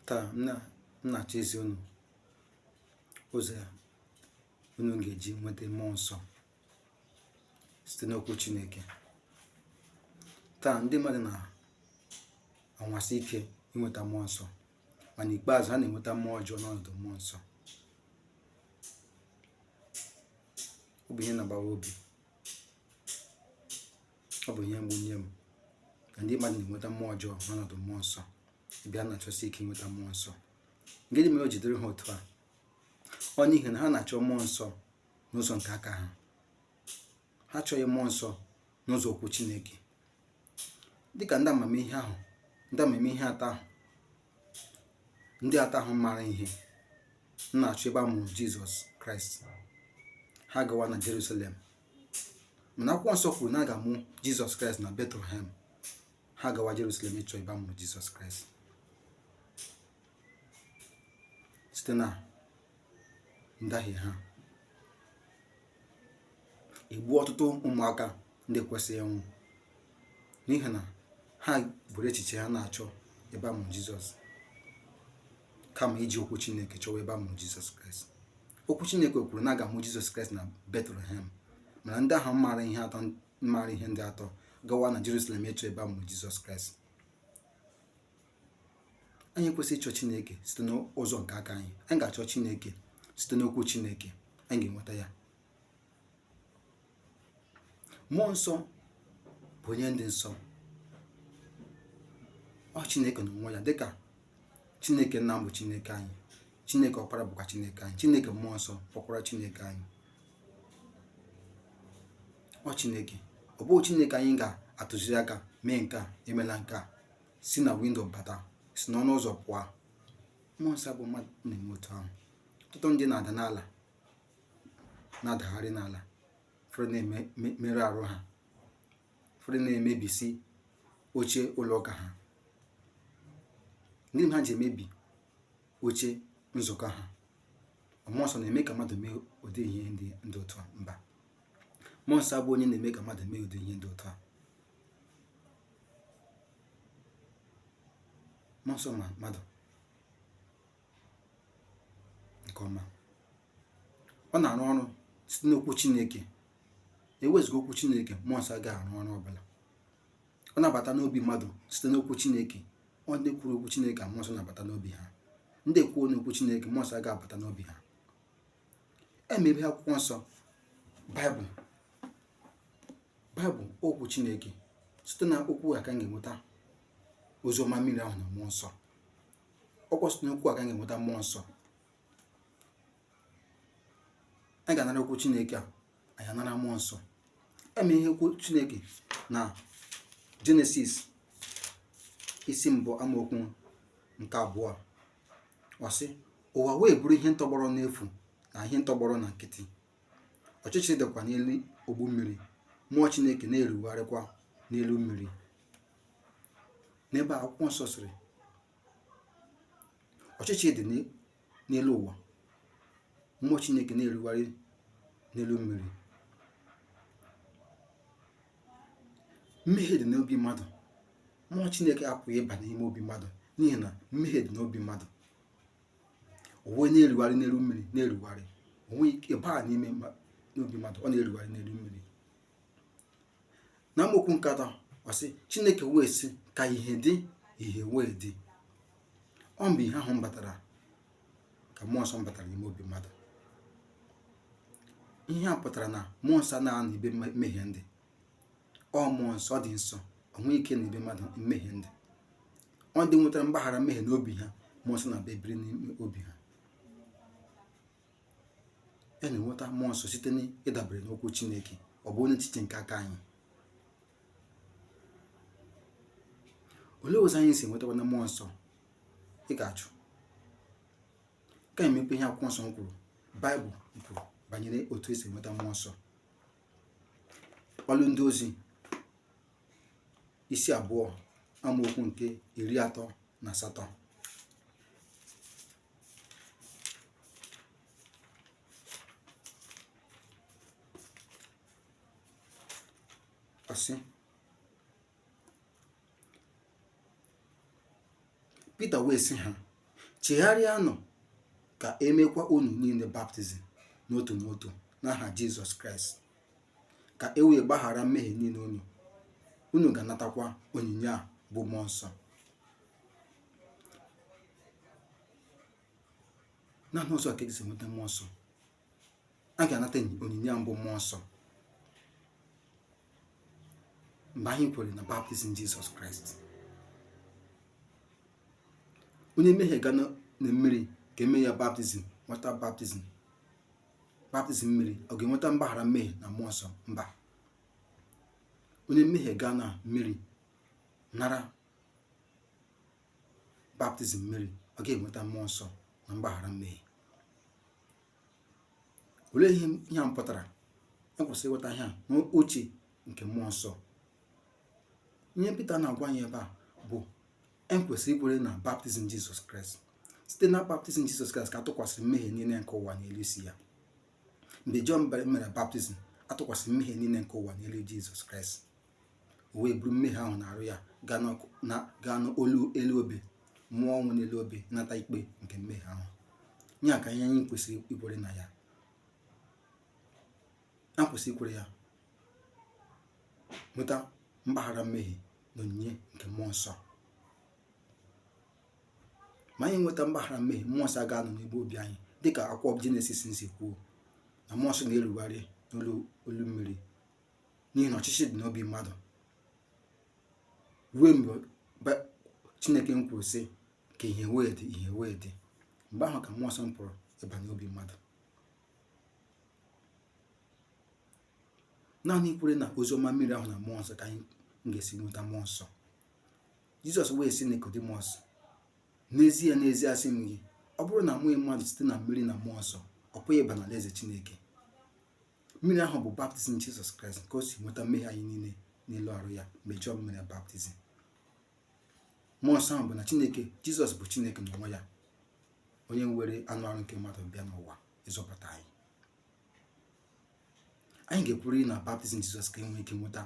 taa m na- m na-achọ izi unu ụzọ unu ga-eji nweta mmụọ nsọ site n'okwu chineke taa ndị mmadụ na-anwasi ike inweta mmụọ nsọ mana ikpeazụ ha na-enweta mmụọ ọjọọ n'ọnọdụ mmụọ nsọ ọ bụ ihe na-agbawa obi ọ bụ ihe mgbu nye m na ndị mmadụ na-enweta mmụọ ọjọọ n'ọnọdụ mmụọ nsọ ebe ha na-achọsi ike inweta mmụọ nsọ gịnị mere o ji dịrị ha otu a ọ n'ihi na ha na-achọ mmụọ nsọ n'ụzọ nke aka ha ha achọghị mmụọ nsọ n'ụzọ okwu chineke dịka ndị amamihe ahụ ndị amamihe atọ ahụ ndị atọ ahụ maara ihe na-achọ ebe a mụrụ jizọs kraịst ha gawa na jerusalem mana akwụkwọ nsọ kwuru na a ga-amụ jizọs kraịst na betlehem ha gawa jerusalem ịchọ ebe a mụrụ jizọs kraịst site na ndahie ha egbuo ọtụtụ ụmụaka ndị ekwesịghị ịnwụ n'ihi na ha buru echiche ha na-achọ ebe a mụrụ jizọs kama iji okwu chineke chọwa ebe a mụrụ jizọs kraịst okwu Chineke kwuru na a ga-amụ Jizọs Kraịst na Betlehem mana ndị ahụ maara ihe ndị atọ gawa na Jerusalem ịchọ ebe a mụrụ Jizọs Kraịst anyị ekwesịghị ịchọ Chineke site n'ụzọ nke aka anyị anyị ga-achọ Chineke site n'okwu Chineke anyị ga-enweta ya Mmụọ nsọ bụ onye dị nsọ. Ọ Chineke n'onwe ya dịka Chineke nna m bụ Chineke anyị. Chineke ọkpara bụkwa Chineke anyị. Chineke mmụọ nsọ bụkwara Chineke anyị. Ọ Chineke. Ọ bụghị Chineke anyị ga-atụziri aka mee nke a emela nke a si na windo bata si n'ọnụ ụzọ pụọ mmụọ nsọ abụghị mmadụ na-eme otu ahụ ọtụtụ ndị na-ada n'ala na-adagharị n'ala ụfọdụ na-emerụ arụ ha ụfọdụ na-emebisi oche ụlọ ụka ha ndị ha ji emebi oche nzukọ ha ọ mmụọ nsọ na-eme ka mmadụ mee ụdị ihe ndị dị otu a mba mmụọ nsọ abụghị onye na-eme ka mmadụ mee ụdị ihe dị otu a mmụọ nsọ ma mmadụ nke ọma ọ na-arụ ọrụ site n'okwu chineke ewezuga okwu chineke mmụọ nsọ agaghị arụ ọrụ ọbụla ọ na-abata n'obi mmadụ site n'okwu chineke ọ ndị kwuru okwu chineke ka mmụọ nsọ na-abata n'obi ha ndị ekweghị n'okwu chineke mmụọ nsọ agaghị abata n'obi ha e mepee akwụkwọ nsọ bụ baịbụl okwu chineke site na okwu a ka anyị ga-enweta oziọma mmiri ahụ na mmụọ nsọ ọ kwa site n'okwu a ka anyị ga-enweta mmụọ nsọ anyị ga-anara okwu chineke a anyị anara mmụọ nsọ e meghee okwu chineke na jenesis isi mbụ amaokwu nke abụọ ọ sị ụwa wee bụrụ ihe ntọgbọrọ n'efu na ihe ntọgbọrọ na nkịtị ọchịchịrị dịkwa n'elu ogbu mmiri mmụọ chineke na-erugharịkwa n'elu mmiri n'ebe akwụkwọ nsọ sịrị ọchịchịrị dị n'elu ụwa mmụọ chineke na-erugharị n'elu mmiri mmehie dị n'obi mmadụ mmụọ chineke apụghị ịba n'ime obi mmadụ n'ihi na mmehie dị n'obi mmadụ o wee na-erugharị n'elu mmiri na-erugharị o nweghị ike ịba n'ime obi mmadụ ọ na-erugharị n'elu mmiri na amaokwu nke atọ ọ sị chineke wee sị ka ihe dị ihe wee dị ọ mgbe ihe ahụ batara ka mmụọ nsọ batara n'ime obi mmadụ ihe a pụtara na mmụọ nsọ anaghị anọ ebe mmehie dị ọ mmụọ nsọ ọ dị nsọ o nweghị ike nọ ebe mmadụ mmehie dị ọ ndị nwetara mgbaghara mmehie n'obi ha mmụọ nsọ na-abịa ebiri n'ime obi ha anyị na-enweta mmụọ nsọ site n'ịdabere n'okwu Chineke ọ bụghị n'echiche nke aka anyị olee ụzọ anyị si enwetakwanụ mmụọ nsọ ị ga-achọ ka anyị mepee ihe akwụkwọ nsọ kwuru baịbụl kwuru banyere otu esi enweta mmụọ nsọ ọlụ ndị ozi isi abụọ amaokwu nke iri atọ na asatọ Ọ sị Pita wee sị ha chegharịanụ ka emekwa unu niile baptizim n'otu n'otu n'aha Jizọs Kraịst ka e wee gbaghara mmehie niile unu unu ga-anatakwa onyinye a bụ mmụọ nsọ naanị ụzọ ka e si enweta mmụọ nsọ a ga-anata onyinye a bụ mmụọ nsọ mgbe anyị kwere na baptizim jizọs kraịst onye mmehie gaa na mmiri ka eme ya baptizim nweta bapti baptizim mmiri ọ ga-enweta mgbaghara mmehie na mmụọ nsọ mba onye mmehie gaa na mmiri nara baptizim mmiri ọ ga-enweta mmụọ nsọ na mgbaghara mmehie olee ihe ihe a pụtara ekwesịrị ịghọta ihe a n'uche nke mmụọ nsọ ihe Pita na-agwa anyị ebe a bụ ekwesịrị ikwere na baptizim Jizọs Kraịst site na baptizim Jizọs Kraịst ka atụkwasịrị mmehie niile nke ụwa n'elu isi ya mgbe Jọn mere baptizim atụkwasịrị mmehie niile nke ụwa n'elu Jizọs Kraịst o wee buru mmehie ahụ n'arụ ya gaa n'olu elu obe nwụọ ọnwụ n'elu obe nata ikpe nke mmehie ahụ ya ka ihe anyị kwesịrị ikwere na ya a kwesịrị ikwere ya nweta mgbaghara mmehie na onyinye nke mmụọ nsọ ma anyị nweta mgbaghara mmehie mmụọ nsọ ga-anọ n'ebe obi anyị dịka akwụkwọ jenesis si kwuo na mmụọ nsọ na-erugharị n'olu mmiri n'ihi na ọchịchị dị n'obi mmadụ ruo mgbe chineke m kwuru sị ka ihe wee dị ihe wee dị mgbe ahụ ka mmụọ nsọ m pụrụ ịba n'obi mmadụ naanị ikwere na oziọma mmiri ahụ na mmụọ nsọ ka anyị ga-esi nweta mmụọ nsọ jizọs wee sị nikodimọs n'ezie n'ezie asị m gị ọ bụrụ na amụghị mmadụ site na mmiri na mmụọ nsọ ọ pụghị ịba n'alaeze chineke mmiri ahụ bụ baptizim jizọs kraịst nke o si nweta mmehie anyị niile n'elu arụ ya mgbe jọn mere baptizim mmụọ nsọ ahụ bụ na chineke jizọs bụ chineke na onwe ya onye were anụ arụ nke mmadụ bịa n'ụwa ịzọpụta anyị anyị ga-ekwerịrị na baptizim jizọs ka enwee ike nweta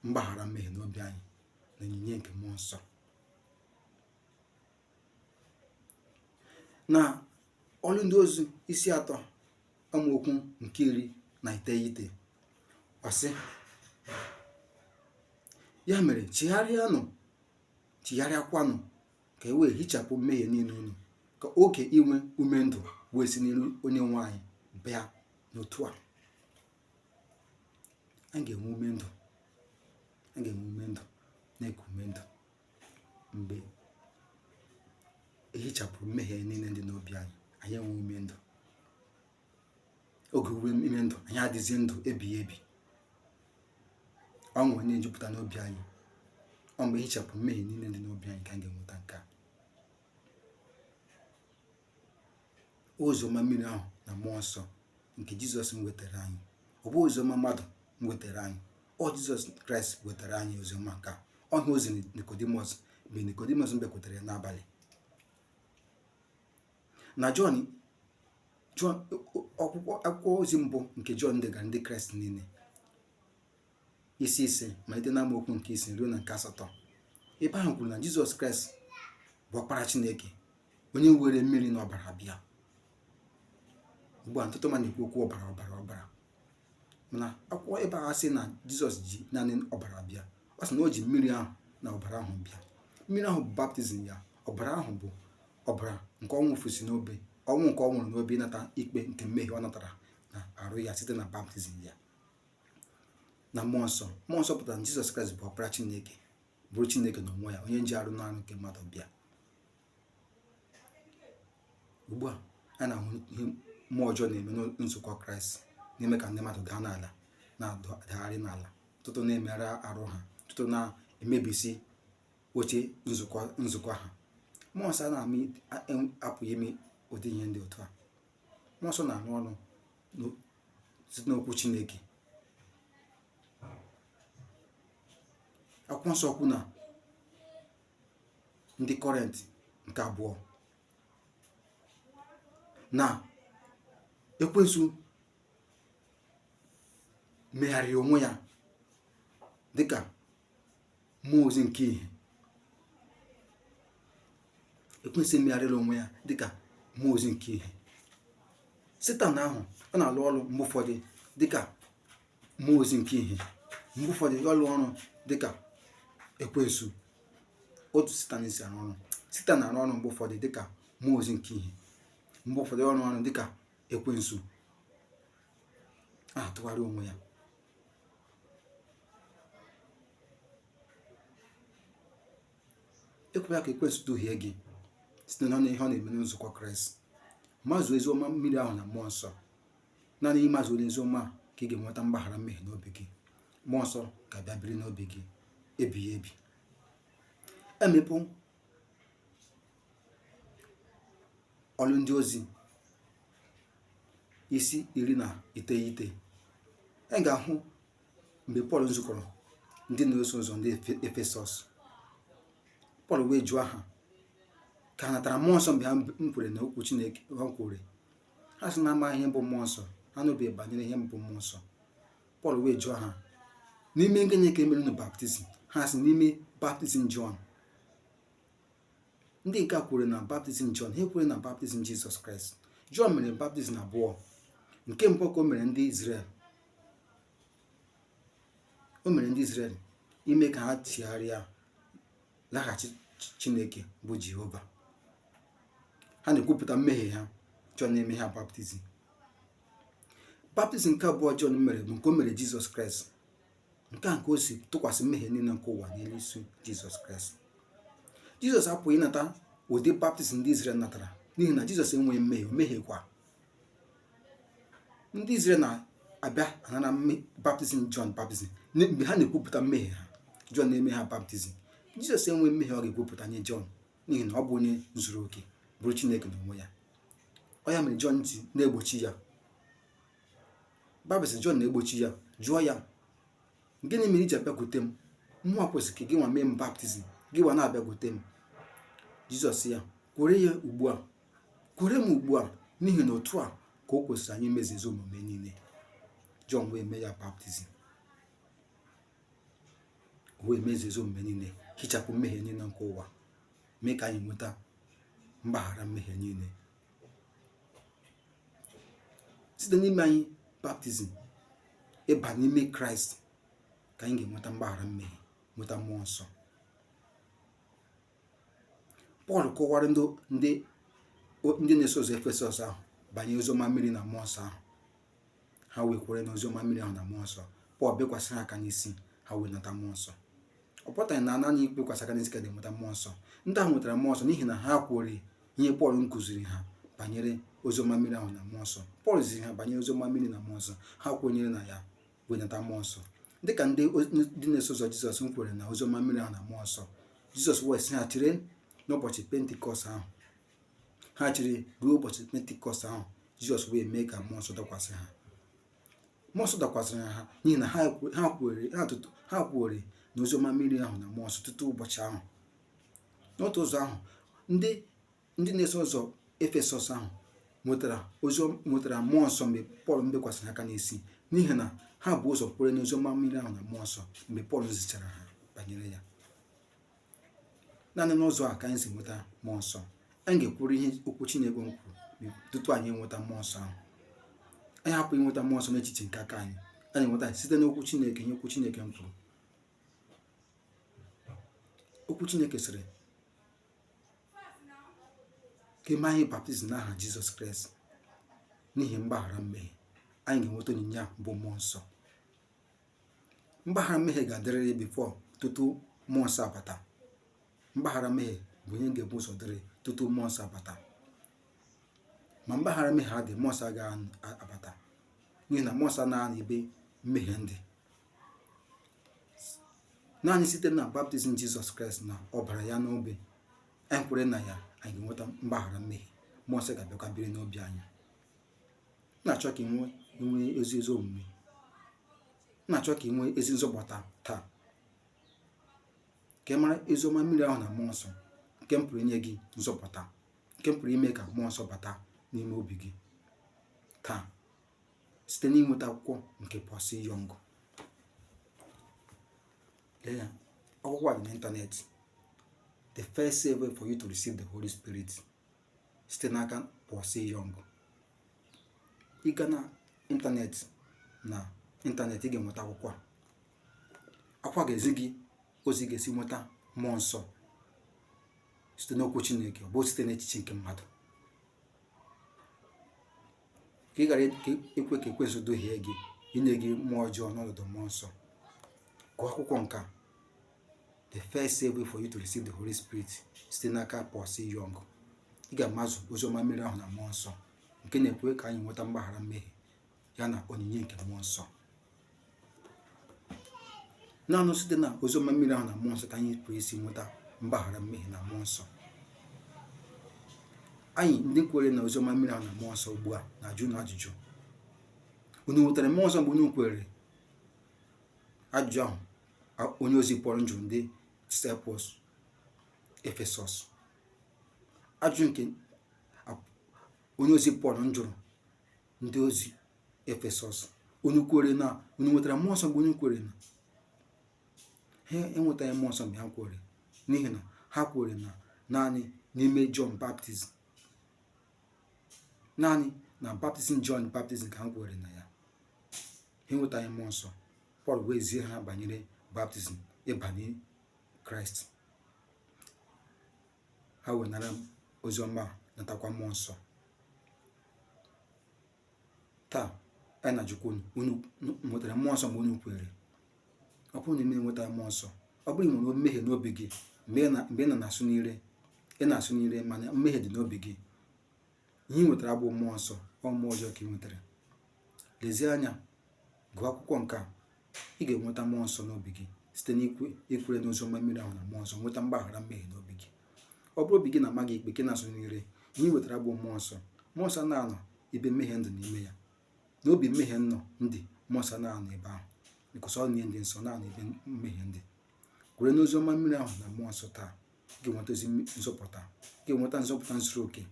mgbaghara mmehie n'obi anyị na onyinye nke mmụọ nsọ na ọlụ ndị ozi isi atọ amaokwu nke iri na iteghete ọ sị ya mere chegharịanụ chigharịakwanụ ka e wee hichapụ mmehie niile unu ka oge inwe ume ndụ wee si n'iru onye nwe anyị bịa n'otu a anyị ga-enwe ume ndụ anyị ga-enwe ume ndụ na-eku ume ndụ mgbe ehichapụrụ mmehie niile dị n'obi anyị anyị enwe ume ndụ oge ume ndụ anyị adịzie ndụ ebighị ebi ọṅụ na-ejupụta n'obi anyị ọ mgbe ehichapụ mmehie niile dị n'obi anyị ka anyị ga-enweta nke a oziọma mmiri ahụ na mmụọ nsọ nke jizọs wetara anyị ọ bụ oziọma mmadụ wetara anyị ọ jizọs kraịst wetara anyị oziọma nke a ọ ihe o ziri nikodimọs mgbe nikodimọs bịakwutere ya n'abalị na jọn n'akwụkwọ ozi mbụ nke jọn degara ndị kraịst niile isi ise malite na amaokwu nke isii ruo na nke asatọ ebe ahụ kwuru na jizọs kraịst bụ ọkpara chineke onye were mmiri na ọbara bịa ugbu a ọtụtụ mmadụ na-ekwu okwu ọbara ọbara ọbara mana akwụkwọ ebe a sị na jizọs ji naanị ọbara bịa ọ sị na o ji mmiri ahụ na ọbara ahụ bịa mmiri ahụ bụ baptizim ya ọbara ahụ bụ ọbara nke ọ wụfusị n'obe ọnwụ nke ọ nwụrụ n'obe ịnata ikpe nke mmehie ọ natara na arụ ya site na baptizim ya na mmụọ nsọ mmụọ nsọ pụtara na jizọs kraịst bụ ọkpara chineke bụrụ chineke na onwe ya onye nji arụ n'arụ nke mmadụ bịa ugbu a a na-ahụ ihe mmụọ ọjọọ na-eme na nzukọ kraịst na-eme ka ndị mmadụ daa n'ala na-adagharị n'ala ọtụtụ na-emerụ arụ ha ọtụtụ na-emebisi oche nzukọ ha mmụọ nsọ na-apụghị ime ụdị ihe ndị otu a mmụọ nsọ na-arụ ọrụ site n'okwu Chineke akwụkwọ nsọ kwu na ndị kọrịnt nke abụọ na ekwensu megharịrị onwe ya dịka mmụọ ozi nke ihe ekwensu emegharịla onwe ya dịka mmụọ ozi nke ihe setan ahụ ọ na-alụ ọrụ mgbe ụfọdụ dịka mmụọ ozi nke ihe mgbe ụfọdụ ya arụọ ọrụ dịka ekwensu otu setan si arụ ọrụ setan na-arụ ọrụ mgbe ụfọdụ dịka mmụọ ozi nke ihe mgbe ụfọdụ ọ rụọ ọrụ dịka ekwensu na-atụgharị onwe ya ekwela ka ekwensu duhie gị site na ihe ọ na-eme na nzukọ kraịst mazuo oziọma mmiri ahụ na mmụọ nsọ naanị ịmazu oziọma ka ị ga-enweta mgbaghara mmehie n'obi gị mmụọ nsọ ga-abịa biri n'obi gị ebighị ebi emepụ ọlụ ndị ozi isi iri na iteghete anyị ga-ahụ mgbe pọl nzukọrọ ndị na-eso ụzọ ndị Efe- efesọs pọl wee jụọ ha ka ha natara mmụọ nsọ mgbe ha nkwere na okwu chineke ha kwere ha sị na amaghị ihe bụ mmụọ nsọ ha anụbeghị banyere ihe bụ mmụọ nsọ pọl wee jụọ ha n'ime gịnị ka e mere unu baptizim ha sị n'ime baptizim jọn ndị nke a kwere na baptizim Jọn ha ekwere na baptizim Jizọs Kraịst Jọn mere baptizim abụọ nke mbụ ka o mere ndị Izrel o mere ndị Izrel ime ka ha chigharịa laghachi Chineke bụ Jehova ha na-ekwupụta mmehie ha Jọn na-eme ha baptizim baptizim nke abụọ Jọn mere bụ nke o mere Jizọs Kraịst nke a nke o si tụkwasị mmehie niile nke ụwa n'elu isi jizọs kraịst jizọs apụghị ịnata ụdị baptizim ndị izrel natara n'ihi na jizọs enweghị mmehie o mehiekwa ndị izrel na-abịa anara baptizim jọn baptizim mgbe ha na-ekwupụta mmehie ha jọn na-eme ha baptizim jizọs enweghị mmehie ọ ga-ekwupụta nye jọn n'ihi na ọ bụ onye zuru oke bụrụ chineke na onwe ya ọ ya mere jọn ji na-egbochi ya Baịbụl sị Jọn na-egbochi ya jụọ ya gịnị mere i ji abịakwute m mụ nwa kwesịrị ka gị nwa mee m baptizim gị nwa na-abịakwute m Jizọs sị ya kwere ya ugbu a kwere m ugbu a n'ihi na otu a ka o kwesịrị anyị imezi ezi omume niile Jọn wee mee ya baptizim wee mezie ezi omume niile hichapụ mmehie niile nke ụwa mee ka anyị nweta mgbaghara mmehie niile site n'ime anyị baptizim ịba n'ime kraịst ka anyị ga-enweta mgbaghara mmehie nweta mmụọ nsọ pọl kọwara ndị na-eso ụzọ efesọs ahụ banyere oziọma mmiri na mmụọ nsọ ahụ ha wee kwere n'ozi ọma mmiri ahụ na mmụọ nsọ pọl bikwasị ha aka n'isi ha wee nata mmụọ nsọ ọ pụtaghị na naanị ibikwasị aka n'isi ka a na-enweta mmụọ nsọ ndị ahụ nwetara mmụọ nsọ n'ihi na ha kwere ihe pọl nkụziri ha banyere ozi ọma mmiri ahụ na mmụọ nsọ pọl ziri ha banyere ozi ọma mmiri na mmụọ nsọ ha kwenyere na ya wee nata mmụọ nsọ dịka ndị ndị na-eso ụzọ jizọs nkwere na ozi ọma mmiri ahụ na mmụọ nsọ jizọs wee sị ha chere n'ụbọchị pentikọst ahụ ha chere ruo ụbọchị pentikọst ahụ jizọs wee mee ka mmụọ nsọ dakwasị ha mmụọ nsọ dakwasịrị ha n'ihi na ha kwere ha kwere na oziọma mmiri ahụ na mmụọ nsọ tutu ụbọchị ahụ n'otu ụzọ ahụ ndị ndị na-eso ụzọ efesọs ahụ nwetara oziọma nwetara mmụọ nsọ mgbe pọl mbikwasịrị ha aka n'isi n'ihi na ha bu ụzọ kwere n'oziọma mmiri ahụ na mmụọ nsọ mgbe pọl zichara ha banyere ya naanị n'ụzọ a ka anyị si nweta mmụọ nsọ anyị ga-ekwuru ihe okwu Chineke nkwuru tutu anyị enweta mmụọ nsọ ahụ anyị apụghị inweta mmụọ nsọ n'echiche nke aka anyị anyị nweta site n'okwu Chineke ihe okwu Chineke nkwuru okwu Chineke sịrị ka e mee anyị baptizim n'aha Jizọs Kraịst n'ihi mgbaghara mmehie anyị ga-enweta onyinye a bụ mmụọ nsọ mgbaghara mmehie ga-adịrịrị before tutu mmụọ nsọ abata mgbaghara mmehie bụ ihe ga-ebu ụzọ dịrị tutu mmụọ nsọ abata ma mgbaghara mmehie adị mmụọ nsọ agaghị anụ- a- abata n'ihi na mmụọ nsọ anaghị anọ ebe mmehie ndị naanị site na baptizim jizọs kraịst na ọbara ya n'obe anyị kwere na ya anyị ga-enweta mgbaghara mmehie mmụọ nsọ ga-abịakwa biri n'obi anyị na-achọ ka ị nwee ị nwee ezi ezi omume na-achọ ka ị nwee ezi nzọpụta taa ka ị mara oziọma mmiri ahụ na mmụọ nsọ nke pụrụ inye gị nzọpụta nke pụrụ ime ka mmụọ nsọ bata n'ime obi gị taa site n'inweta akwụkwọ nke Paul C. Jong lee ya akwụkwọ a dị n'ịntanetị the fail-safe way for you to receive the Holy Spirit site n'aka Paul C. Jong. Ị gaa na ịntanetị na ịntanetị ị ga-enweta akwụkwọ a. Akwụkwọ a ga-ezi gị ụzọ ị ga-esi nweta mmụọ nsọ site n'okwu Chineke ọ bụghị site n'echiche nke mmadụ ka ị ghara ekwe ka ekwensu duhie gị inye gị mmụọ ọjọọ n'ọnọdụ mmụọ nsọ gụọ akwụkwọ nke a the fail-safe way for you to receive the Holy Spirit site n'aka Paul C. Jong ị ga-amazụ oziọma mmiri ahụ na mmụọ nsọ nke na-ekwe ka anyị nweta mgbaghara mmehie ya na onyinye nke mmụọ nsọ naanị site na oziọma mmiri ahụ na mmụọ nsọ ka anyị pụrụ isi nweta mgbaghara mmehie na mmụọ nsọ anyị ndị kwere na oziọma mmiri ahụ na mmụọ nsọ ugbu a na-ajụ unu ajụjụ unu nwetara mmụọ nsọ mgbe unu kwere ajụjụ ahụ onye ozi pọl njụrụ ndị disciples efesọs ajụjụ nke onye ozi pọl njụrụ ndị ozi efesọs unu kwere na unu nwetara mmụọ nsọ mgbe unu kwere na ha enwetaghị mmụọ nsọ mgbe ha kwere n'ihi na ha kwere na naanị n'ime John baptizim naanị na baptizim John baptizim ka ha kwere na ya ha enwetaghị mmụọ nsọ pọl wee zie ha banyere baptizim ịbanye kraịst ha wee nara ozi ọma natakwa mmụọ nsọ taa anyị na-ajụkwa unu nwetara mmụọ nsọ mgbe unu kwere ọ bụrụ na ị ma enweta mmụọ nsọ ọ bụrụ ị nwere mmehie n'obi gị mgbe ị na-asụ n'ire ị na-asụ n'ire mana mmehie dị n'obi gị ihe ị nwetara abụ mmụọ nsọ ọ mmụọ ọjọọ ka ị nwetara lezie anya gụọ akwụkwọ nke a ị ga-enweta mmụọ nsọ n'obi gị site n'ikwere n'ozi ọma mmiri ahụ na mmụọ nsọ nweta mgbaghara mmehie n'obi gị ọ bụrụ obi gị na-ama gị ikpe gị na-asụ n'ire ihe ị nwetara abụ mmụọ nsọ mmụọ nsọ na-anọ ebe mmehie dị n'ime ya n'obi mmehie nọ dị mmụọ nsọ na-anọ ebe ahụ because ọ onye dị nsọ na-anọ ebe mmehie dị kwere n'ozi ọma mmiri ahụ na mmụọ nsọ taa ga-enwetazi nzọpụta ị ga-enweta nzọpụta zuru oke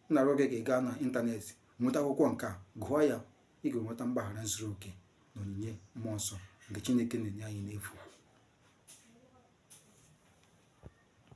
m na-arịọ gị ka ị gaa na ịntanetị nweta akwụkwọ nke a gụọ ya ị ga-enweta mgbaghara zuru oke na onyinye mmụọ nsọ nke Chineke na-enye anyị n'efu